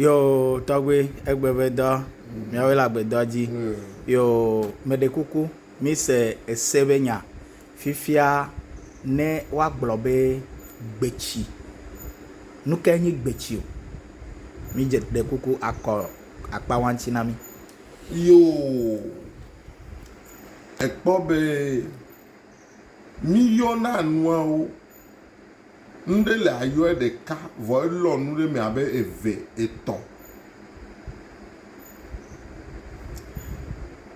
Yoo tɔgbe egbe be dɔ miawoe le agbedɔ dzi yoo meɖe kuku mise ese be nya fifia ne woagblɔ be gbetsi. Nu kae nye gbetsi o? Midze ɖe kuku akɔ akpawaŋti na mi. Yoo ekpɔ be. Míyɔna nuawo, nu ɖe li àyɔe ɖeka vɔ elɔ nu ɖe eme abe eve, etɔ̃.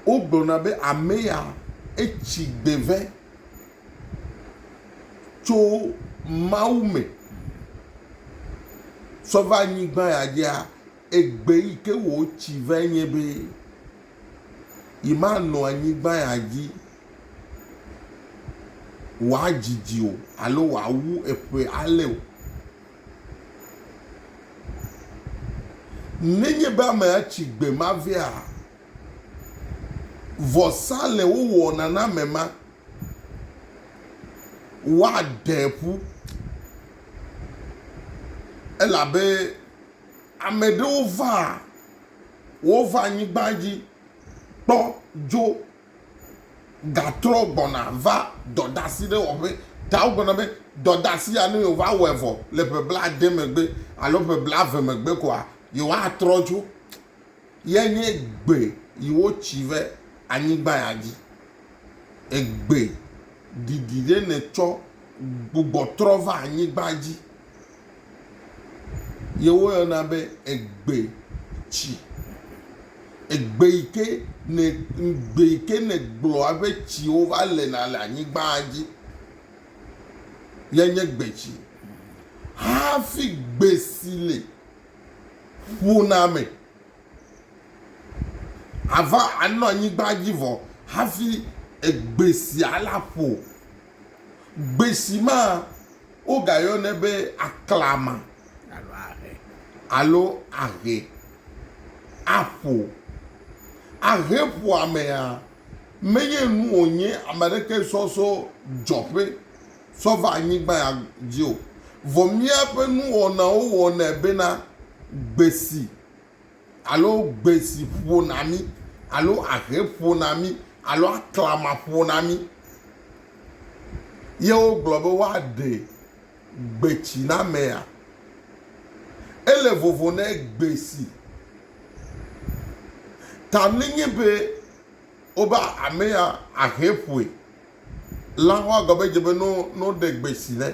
Wogblɔna be ame ya etsi gbe vɛ tso Mawu me tsɔ va anyigba ya dzia, egbe yi ke wòtsi vɛ nye be yemanɔ anyigba ya dzi. wòadzidzi o alo wòawu eƒe ale o. Nenye be amea tsi gbe ma vea, vɔsa le wowɔna na ame ma, woaɖee ƒu elabe ame ɖewo vaa, wova anyigba dzi kpɔ dzo. gatrɔ gbɔna va dɔdasiɖewɔƒe. Ta wogblɔna be dɔdasi ya, ne yewova wɔe vɔ le ƒe blaade megbe alo ƒe blaeve megbe koa, yewoatrɔ dzo. Ye nye egbe yi wotsi ve anyigba ya dzi. Egbe didi ɖe netsɔ gbugbɔ trɔ va anyigba dzi. ye woyɔna be egbe tsi. Egbe yi ke ne egbe yi ke ne gblɔ eƒe tsiwo va lena le anyigba dzi yae nye gbetsi. Hafi gbe si li ƒona me ava anɔ anyigba dzi vɔ hafi egbe sia la ƒo. Gbesi ma wogayɔnɛ be aklama alo ahe. Aƒo. Ahe ƒoa mea, menye nu wònye ame aɖeke sɔ so dzɔƒe sɔ va anyigba ya dzi o. Vɔ míaƒe nuwɔnawo wɔnɛ bena gbesi Alo gbe si ƒo na mí, alo ahe ƒo na mí, alo aklama ƒo na mí. Ye wogblɔ be woaɖe gbetsi na mea? Ele vovo ne gbe si. Ta mli nye be wobe amea ahe ƒoe. La ho agɔ be dze be no no ɖe gbe si ne.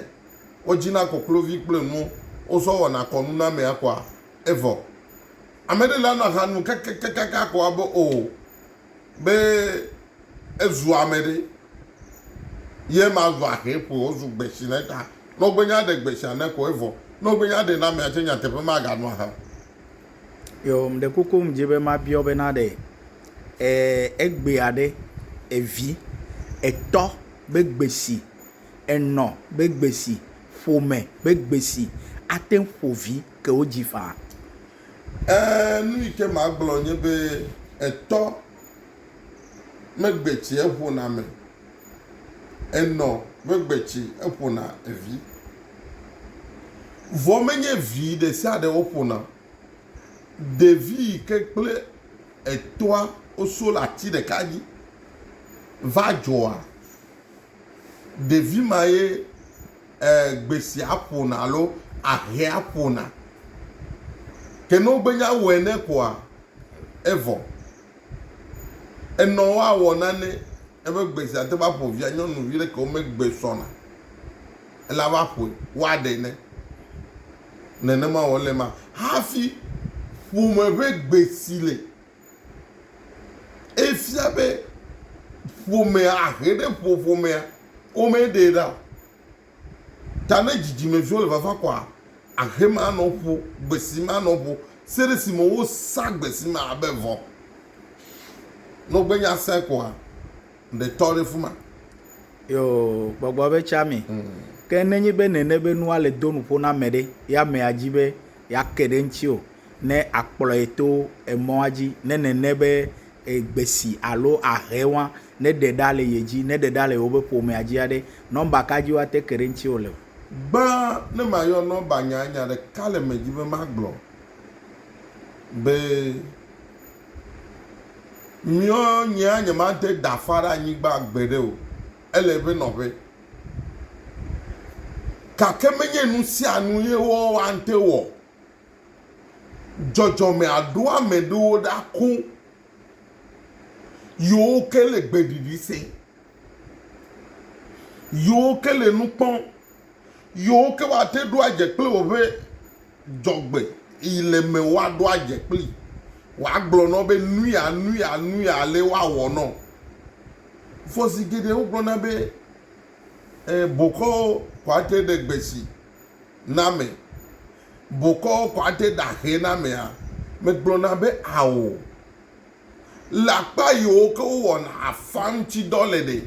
Wodzina koklovi kple nuwo, wozɔ wɔna kɔnunamea kɔa? Evɔ ameɖe le ana ha nu kakakakaka ko abe o be ezu ameɖe. Ye ma zu ahe ƒo wozu gbesi ne ta. Ne wogbe nya ɖe gbesia ne ko evɔ. Ne wogbe nya ɖe na mea tse nyateƒe ma ga nu aha. Yo mɖe koko mdzi be ma biɔ be na ɖe egbea ɖe evi, etɔ be gbesi, enɔ be gbesi, ƒome be gbesi ate ƒo vi. ke wo dzi ƒã. Ẽ, nu yi ke magblɔ nye be etɔ megbe tsi eƒona ame, enɔ megbe tsi eƒona evi. Vɔ menye vi ɖe sia ɖe woƒona o. Ɖevi yi ke kple etɔa woso le ati ɖeka dzi va dzɔa, ɖevi ma ye. gbesia ƒona alo ahea ƒona. Ke ne wogbe nya wɔ ene koa, evɔ. Enɔ woawɔ nane ebe gbesia ate va ƒo via nyɔnuvi ɖe ke wome gbe sɔna ela va ƒoe woaɖe ene. Nenema wɔ le ma hafi ƒome ƒe gbe si le. Efia be ƒomea, ahe ɖe ƒo ƒomea, womee ɖee ɖa o. Ta ne dzidzimeviwo le fafa kɔa, ahe ma anɔ ƒo, gbesi ma anɔ ƒo se ɖe esime wosa gbesi ma abe vɔ. Ne wogbe nya sɛ kɔa, ɖe tɔ ɖe fi ma. Yoo, gbɔgbɔ be tsea me. Ke ne nye be nène be nua le do nuƒo na ame ɖe, ye amea di be yeake ɖe eŋuti o, ne akplɔe to emɔa dzi, ne nene be gbesi alo ahe wa, ne ɖe ɖa le ye dzi, ne ɖe ɖa le yewobe ƒomea dzi aɖe, nɔmba ka dzi woate ke ɖe ŋutiwò le. Gbã ne mayɔ nɔmba nyaa, nya ɖeka le eme dzi be magblɔ be miɔ nyea nyemade dafa ɖe anyigba gbeɖe o, ele eƒe nɔƒe. Gake menye nusianu ye woante wɔ Dzɔdzɔme aɖo ame ɖewo ɖa koŋ yewo ke le gbeɖiɖi sem, yewo ke le nu kpɔm, yewo ke woate ɖo adze kple woƒe dzɔgbe yi le me woaɖo adze kplii. Woagblɔ na wo be nu ya nu ya nu ya ale woawɔ na wo. Vɔ zi geɖe wogblɔna be e bokɔwo koa te ɖe gbe si na ame. bokɔwo kɔ ade ɖaxɛ na amea, megblɔna be ao. Le akpa yiwo ke wowɔna afã ŋuti dɔ le ɖe,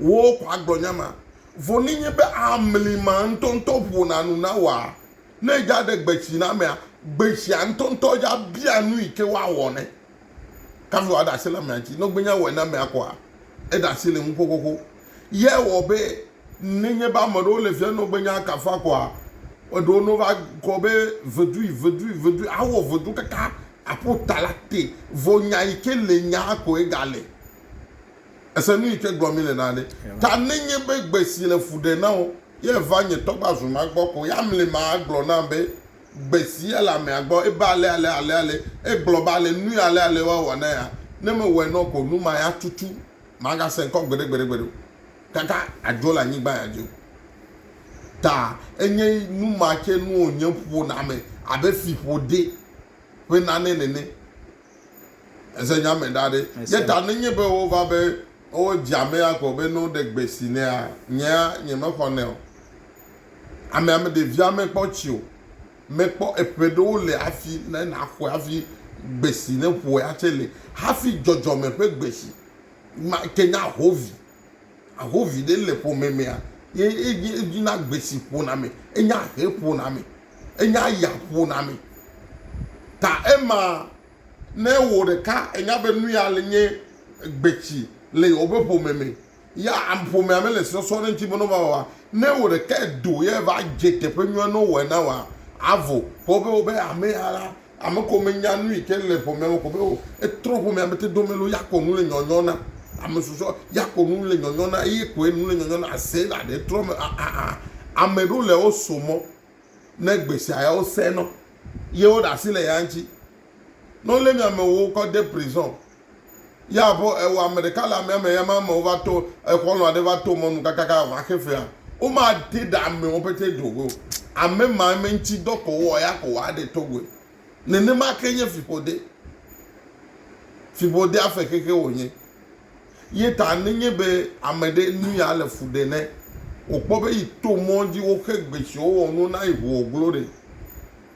wò kɔ agblɔ nya ma. Vɔ ne nye be amli ma ŋutɔŋutɔ ƒona nu na wòa, ne edza ɖe gbetsi na amea, gbetsia ŋutɔŋutɔ dza bia nu yi ke woawɔ nɛ. Kafi wòaɖe asi le amea ŋuti. Ne wogbe nya wɔe na amea kɔa, eɖe asi le ŋu xoxoxo. Ye wɔ be nenye be ame ɖewo le fia nɔ gbe nya kafa kɔa, eɖewo no va kɔ be vedui, vedui, vedui, awɔ vedu kaka aƒo ta la te. Vɔ nya yi ke le nyaa kɔe ga le. Ese nu yi ke gblɔ mi le na ɖe. Ta nenye be gbe si le fu ɖe na wo, ye va nye tɔ gba zu ma gbɔ ko ya mli ma agblɔ na be gbe si ye le amea gbɔ ebe ale ale ale ale, egblɔ be ale nu yi ale ale wa wɔ na ya, ne me wɔe nɔ ko nu ma ya tutu. Magasẽ ŋkɔ gbeɖe gbeɖe gbeɖe o, kaka adzo le anyigba ya dzi o. Ta enye nu ma tsɛ nu wònye ƒona ame abe fiƒode ƒe nane nene. Èse nya me ɖa ɖe? Ye ta nenye be wova be wodze amea ko be ne woɖe gbe si nɛa, nyea nyemexɔnɛ o. Amea meɖe via mekpɔ tsi o. mekpɔ eƒe ɖewo le hafi ne naxɔe hafi gbe si neƒoea tsɛ le hafi dzɔdzɔme ƒe gbe si ma ke nye ahovi. Ahovi ɖe le ƒome mea ye edzi edzi na gbe si ƒona ame. Enye ahe ƒona ame. Enye aya ƒona ame. Ta ema ne wò ɖeka ènya be nu ya le nye gbe si le yewoƒe ƒome me ya am ƒomea mele sɔsɔ ɖe eŋuti bena woava wɔa, ne wò ɖekae do ye va dze teƒe nyuie ne wowɔe na wòa, avo. Ke wobe wobe ame ya la, ame ko menya nu yi ke le ƒomea me ko be o. Etrɔ ƒomea me te do me loo ya ko nu le nyɔnyɔ na ame susɔ, ya ko nu le nyɔnyɔ na eye koe nu le nyɔnyɔ na Sela ɖe etrɔ me a a a. Ame ɖewo le wo so mɔ ne gbe sia ya wosẽ nɔ ye woɖe asi le ya ŋuti. Ne wolé mia amewo kɔ de prison, ye aƒe ewɔ ame ɖeka le amea me, ye ame amewo va to exɔlɔ̃ aɖe va to mɔnu kakaka va xe fea, womate ɖe amewo pete do goe o. Ame ma eme ŋuti dɔ ko wowɔ ya ko woaɖe to goe. Nenema ke nye fiƒode. Fiƒodea fe xexe wònye. Ye ta nenye be ame ɖe nu ya le fu ɖe ne wòkpɔ be yi to mɔ dzi woxe gbe si wowɔ nuwo na yi ŋu wòglo ɖe.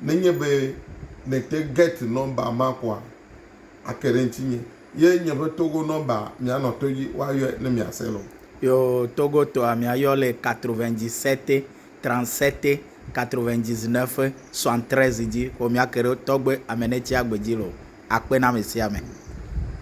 nenye be nète Gert nɔmba ma koa, ake ɖe ŋutinye. Ye nye ƒe Togo nɔmba, mianɔ to dzi woayɔe ne miase loo. Yo Togo tɔa, miayɔ le quatre-vingt-dix-sept, trente-sept, quatre-vingt-dix-neuf, soixante-treize dzi. Xo miake ɖe tɔgbe Amenetsi Agbe dzi loo. Akpe na amesiame.